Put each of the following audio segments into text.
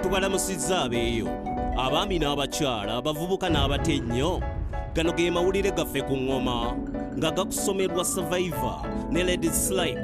tubalamusizza abeeyo abaami n'abakyala abavubuka n'abato ennyo gano ge mawulire gaffe ku ŋŋoma nga gakusomebwa survivor ne ladies like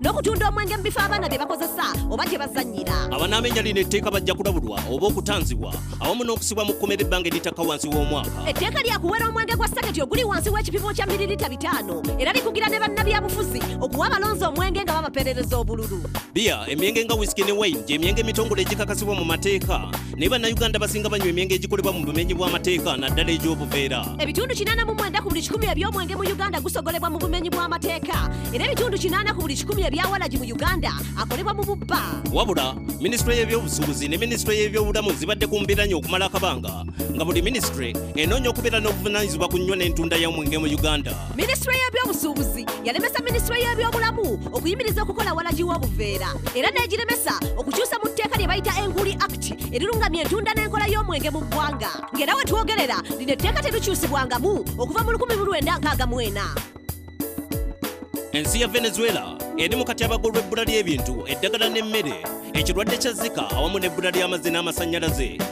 n'okutunda omwenge mu bifo abaana bye bakozesa oba gye bazannyira abanaamenya lino etteeka bajja kulabulwa oba okutanzibwa awamu n'okusibwa mu kkomera ebbanga eritakka wansi w'omwaka etteeka lyakuwera omwenge gwa saketi oguli wansi w'ekipimo kya miririta bitaano era likugira ne bannabyabufuzi okuwa abalonzi omwenge nga babaperereza obululu biya emyenge nga wisiki ne wayini gy'emyenge emitongole egikakasibwa mu mateeka naye bannayuganda basinga banywa emyenge egikolebwa mu bumenyi bw'amateeka naddala egy'obuveera ebitundu 89 ku buli 1 eby'omwenge mu uganda gusogolebwa mu bumenyi bw'amateeka era ebitundu 89 ku buli 1 ebyawalagi mu uganda akolebwa mu bubba wabula minisitule y'ebyobusuubuzi ne minisitule y'ebyobulamu zibadde ku mbiranye okumala akabanga nga buli minisitule enoonya okubeera n'obuvunaanyizibwa ku nnyo n'entunda y'omwenge mu uganda minisitule y'ebyobusuubuzi yalemesa minisitule y'ebyobulamu okuyimiriza okukola walagi w'obuveera era n'egiremesa okukyusa mu tteeka lye bayita enguli act erirungamya entunda n'enkola y'omwenge mu ggwanga ng'era we twogerera lino etteeka terukyusibwangamu okuva mu 1964 ensi ya venezuela eri mu katyabaga olw'ebbula ly'ebintu eddagala n'emmere ekirwadde kya zika awamu n'ebbula ly'amazzi n'amasannyalaze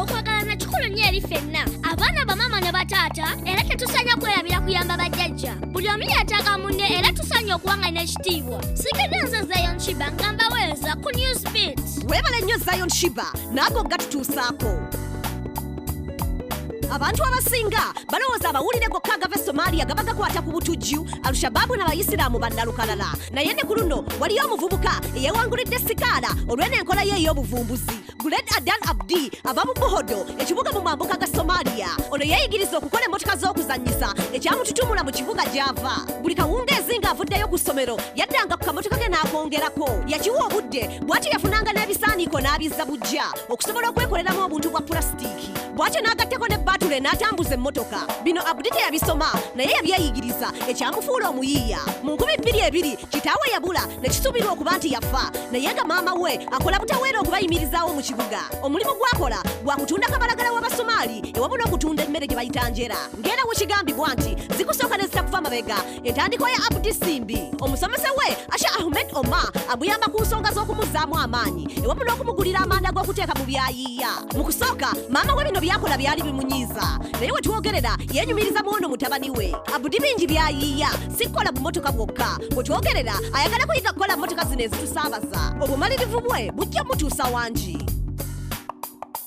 okwagalana kikulu nnyo eri fenna abaana bamaama ne bataata era tetusanya kwerabira kuyamba bajjajja buli omu yetaaga munne era tusanya okuba nga n'ekitiibwa sigedde nze zion shiba nga mbaweereza ku news bit weebale nnyo zion shiba naago gatutuusaako abantu abasinga balowooza amawulire gokka agava e somalia gaba gakwata ku butujju alushabaabu n'abayisiraamu bannalukalala naye ne ku luno waliyo omuvubuka eyewangulidde sikaala olw'eno enkola ye ey'obuvumbuzi Guled Adan Abdi ava mu Buhodo ekibuga mu mambuka ga Somalia. Ono yeeyigiriza okukola emmotoka z'okuzannyisa ekyamututumula mu kibuga gy'ava. Buli kawungeezi ng'avuddeyo ku ssomero yaddanga ku kamotoka ke n'akongerako. Yakiwa obudde bw'atyo yafunanga n'ebisaaniiko n'abizza buggya okusobola okwekoleramu obuntu bwa pulasitiiki. bwatyo n'agatteko ne batule n'atambuza emmotoka bino abudi teyabisoma naye yabyeyigiriza ekyamufuula omuyiiya mu nkumi bbiri ebiri kitaawe yabula ne kisuubirwa okuba nti yafa naye nga maama we akola butaweera okubayimirizaawo mu kibuga omulimu gwakola gwa kutunda kabalagala w'abasomaali ewamu n'okutunda emmere gye bayita njera ng'era wekigambibwa nti zikusooka ne zitakuva mabega entandikwa ya abudi simbi omusomesa we asha ahmed omar amuyamba ku nsonga z'okumuzzaamu amaanyi ewamu n'okumugulira amanda g'okuteeka mu byayiiya mu kusooka maama we bino byakola byali bimunyiiza naye we twogerera yenyumiriza muwono mutabani we abudi bingi byayiiya si kukola bumotoka bwokka we twogerera ayagala kuyiga kukola mmotoka zino ezitusaabaza obumalirivu bwe bujja mutuusa wangi